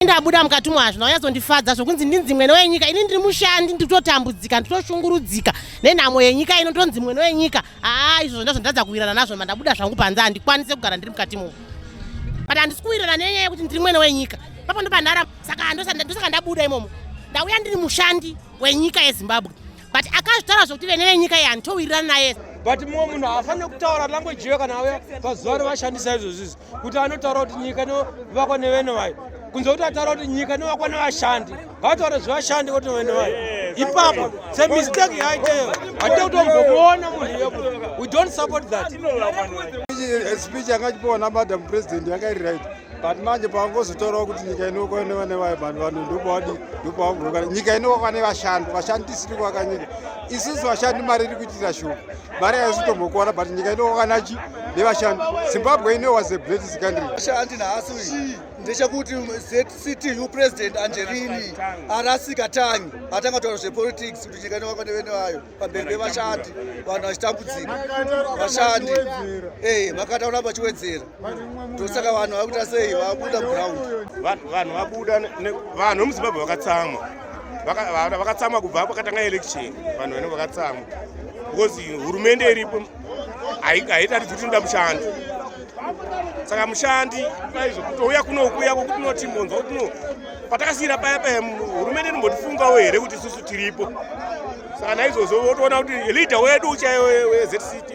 ndabuda mukati umo hazvina kunyazondifadza zvokunzi ndinzi mwene wenyika ini ndiri mushandi nditotambudzika nditoshungurudzika nenhamo yenyika ino ndonzi mwene wenyika haa izvo zvonda zvondatadza kuwirana nazvo mandabuda zvangu panze handikwanise kugara ndiri mukati imomo but handisi kuwirana nenyaya yekuti ndiri mwene wenyika papo ndopandara saka ndosaka ndabuda imomo ndauya ndiri mushandi wenyika yezimbabwe but akazvitaura zvokuti vene venyika iyi handitowirirana naye but mumwe munhu haafanire kutaura language iyo kana auya pazuva rovashandisa izvozvizvi kuti anotaura kuti nyika inovakwa nevene vayo kunze kuti ataura kuti nyika inovakwa nevashandi hataure zvevashandi kuti vene vayo ipapo semistake yaiteyo hatite kutombomuona munhu iyopo we don't support that speech yanga chipiwa namadam president yakairi right but manje pavangozotaurawo kuti nyika inookwa inova nevaibani vanhu ndopawadi ndopavagoroka nyika inookwa nevashandi vashandi tisiri kuvaka nyika isusu vashandi mari iri kuitira shuga mari haisi kutombokuwana but nyika inookwa nachi nevashandi zimbabwe ino was a greatest country vashandi nhasi uyi ndechekuti zctu president angelini arasika tangi atanga kutaura zvepolitics kuti nyika inookwa nevene vayo pabhebhe vashandi vanhu vachitambudzika vashandi eh, makata kuramba achiwedzera tosaka vanhu vakuita sei vabuda ground vanhu vabuda vanhu vemuzimbabwe vakatsamwa vakatsamwa kubva pakatanga election vanhu vanenge vakatsamwa because hurumende iripo haitaridzi kuti inoda mushandi saka mushandi paizvo kutouya kuno kuya kokuti noti monzwa kuti no patakasiyira paya paya hurumende inombotifungawo here kuti isusu tiripo saka naizvozvo votoona kuti leader wedu uchaiyo wezct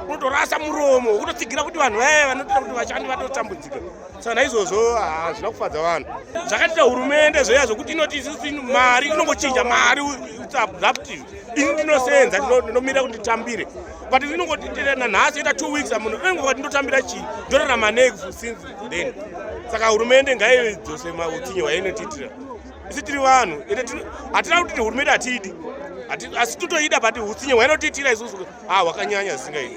unotorasa muromo wokutotsigira kuti vanhu vaya vanotoita kuti vashandi vatotambudzika saka naizvozvo hazvina kufadza vanhu zvakatita hurumende zveya zvokuti inoti isusu mari inongochinja mari zaptive ini ndinosenza ndinomira kuti nditambire but ndinongoti nanhasi yoita two weeks amuno ndinongo kuti ndotambira chii ndorarama nei since then saka hurumende ngaidzose mautsinye hwainotiitira isi tiri vanhu hatina kuti hurumende hatiidi asi totoida but utsinye hwainotiitira isusu ah hwakanyanya zvisingaii